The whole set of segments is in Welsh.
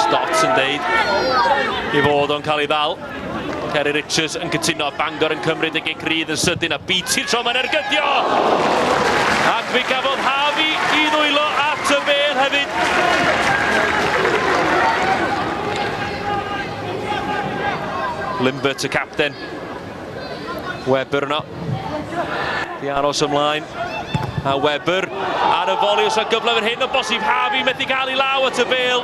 Stotts yn deud i fod o'n cael ei ddal. Ceri Richards yn cytuno a Bangor yn cymryd y gig rydd yn sydyn a BT tro mae'n ergydio! Ac fe gafodd Harvey i ddwylo at y bel hefyd. Limbert y capten. Webber yno. Di aros ymlaen. A Webber ar y foli os o gyfle fan hyn o bosib Harvey methu cael ei law at y fel.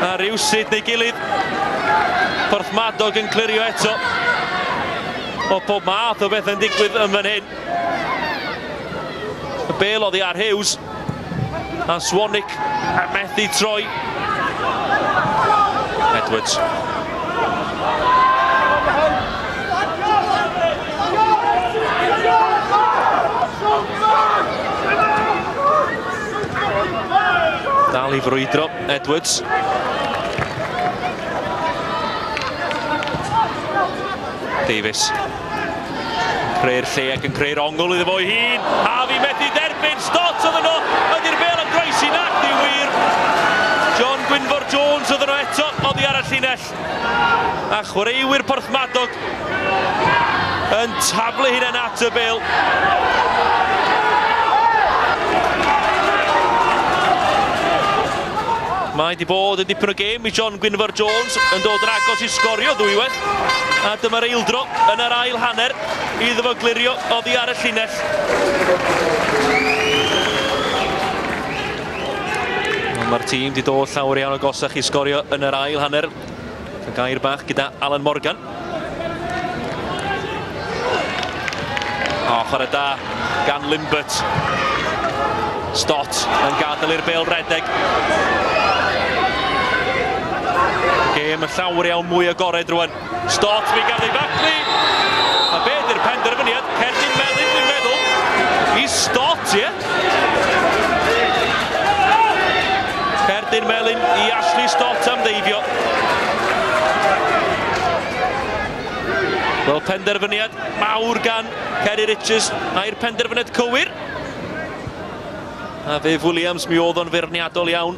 A rhywsyd neu gilydd. Porthmadog yn clirio eto. O pob math o beth yn digwydd yn fan hyn. Y bel oddi ar Hughes. A Swanwick a methu troi. Edwards. Dal i frwydro, Edwards. Davies. Creu'r lle ac yn creu'r ongl iddo fo'i hun. Harvey methu derbyn, stot oedd yno, ydy'r bel yn groesi nac di wir. John Gwynfor Jones oedd yno eto oddi ar y llinell. A chwaraewyr Porthmadog yn taflu hunain at y bel. Mae di bod yn dipyn o gêm i John Gwynfor Jones yn dod yn agos i sgorio ddwywaith. A dyma'r eildro yn yr ail hanner iddo fo glirio oddi ar y llinell. Mae'r tîm wedi dod llawer iawn o gosach i sgorio yn yr ail hanner. Gair bach gyda Alan Morgan. O, chwarae da gan Limbert. Stott yn gadael i'r bel redeg. Gêm y llawr iawn mwy agored rwan. Stott fi gan ei Fackley. A be ydy'r penderfyniad? Cerdyn Melin, dwi'n meddwl. I Stott, ie? Cerdyn Melin i Ashley Stott am ddeifio. Wel, penderfyniad mawr gan Ceri Richards. Mae'r penderfyniad cywir. A Viv Williams, mi oedd o'n feirniadol iawn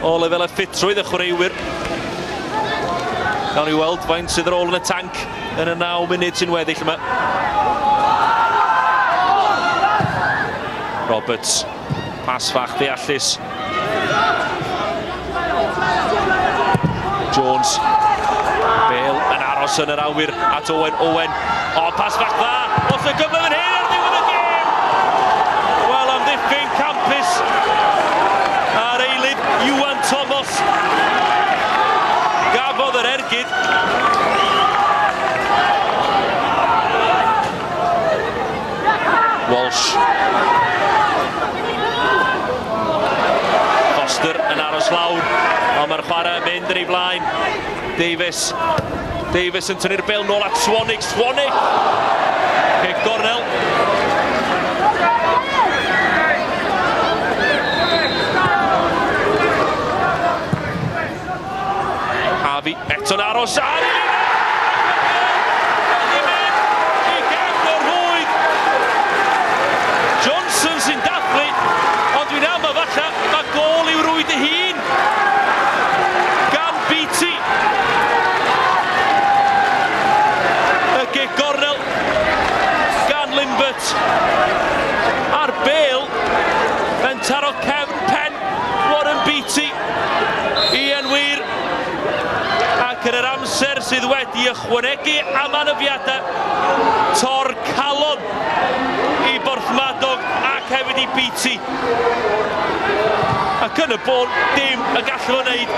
o lefel a ffitrwydd y chwaraewyr. Gawn ni weld faint sydd yr ôl yn y tanc yn y 9 munud sy'n weddill yma. Roberts Pas fach ddeallus. Jones. Bale yn aros yn yr awyr at Owen. Owen. O, pas fach dda. Os y gyfle fan hyn ar ddiwedd y gêm. Wel, am ddiffyn campus ar eilid Iwan Thomas. Gafodd yr ergyd. Walsh. Foster yn aros lawr, ond mae'r chwarae yn mynd yn ei flaen. Davies. Davies yn tynnu'r bel nôl at Swanig. Swanig! Cic gornel. Harvey eto'n aros ar y Johnson sy'n dathlu, ond dwi'n am y falle mae gol i'w rwyd ei hun gan Beatty. Y gig gornel gan Limbert a'r bel yn taro cefn pen Warren Beatty. Ie, yn wir, ac yn yr amser sydd wedi ychwanegu am anafiadau tor calon i Borthmadog ac hefyd i Beatty. Ac yn y bôn, dim y gallu fo wneud.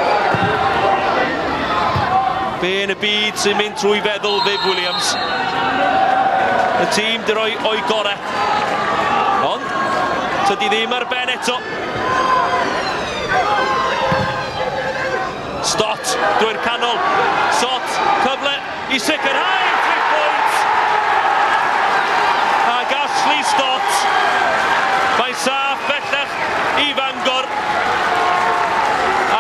Be yn y byd sy'n mynd trwy feddwl Viv Williams? Y tîm di roi o'i gorau. Ond, tydi ddim ar ben eto. Stott, drwy'r canol. Sott, cyfle i sicrhau tri pwynt. A Ashley Stott. Mae saff bellach i Fangor.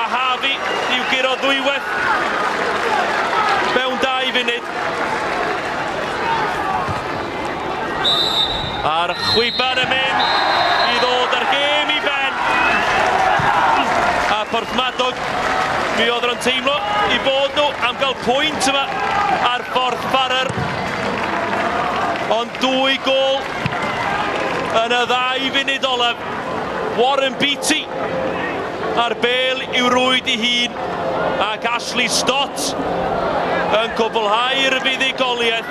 A Harvey i'w guro ddwywaith mewn dau funud. A'r chwiban yn mynd i ddod ar gêm i ben. A Porthmadog, mi oedd nhw'n teimlo i bod nhw am gael pwynt yma ar Borth Barrer. Ond dwy gol yn y ddau funud olaf. Warren Beatty a'r bel i'w rwyd i hun ac Ashley Stott yn cwblhau'r fuddugoliaeth.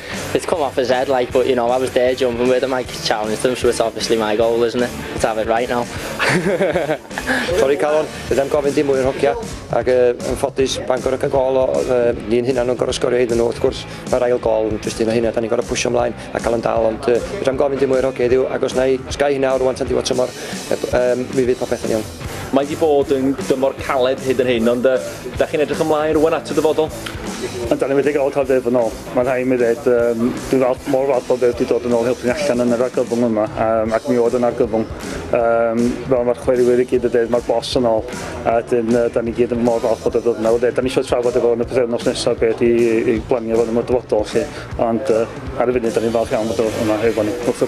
It's come off his head like but you know I was there jumping with him like challenged him so it's obviously my goal isn't it? Let's have it right now. Sori Calon, fydda i'm gofyn dim mwy o'r hogia ac uh, yn ffodus Bangor ac yn gol o uh, ni'n hynna nhw'n gorau sgorio iddyn nhw wrth gwrs mae'r ail gol yn jyst un o hynna da ni'n gorau pwysio ymlaen a cael yn dal ond uh, fydda i'm gofyn dim mwy o'r hogia iddiw ac os na i sgai hynna o'r rwan tan diwedd tymor um, mi fydd popeth yn iawn. Mae wedi bod yn dymor caled hyd yn hyn ond uh, da chi'n edrych ymlaen rwan at y dyfodol? Ond da ni'n wedi gael cael dweud yn ôl. Mae'n rhaid i mi ddweud, yym, dwi'n falch, mor falch o beth wedi dod yn ôl helpu ni allan yn yr argyfwng yma, um, ac mi oedd yn argyfwng. Um, fel mae'r chweriwyr i gyd yn dweud, mae'r bos yn ôl, a dyn, uh, da ni gyd yn mor falch bod y ddod yna. Da ni eisiau trafod efo yn y pythefnos nesaf beth i, i glanio fod yn y dyfodol, chi. Ond uh, ar y funud, da ni'n falch iawn bod o yma efo ni, wrth chi.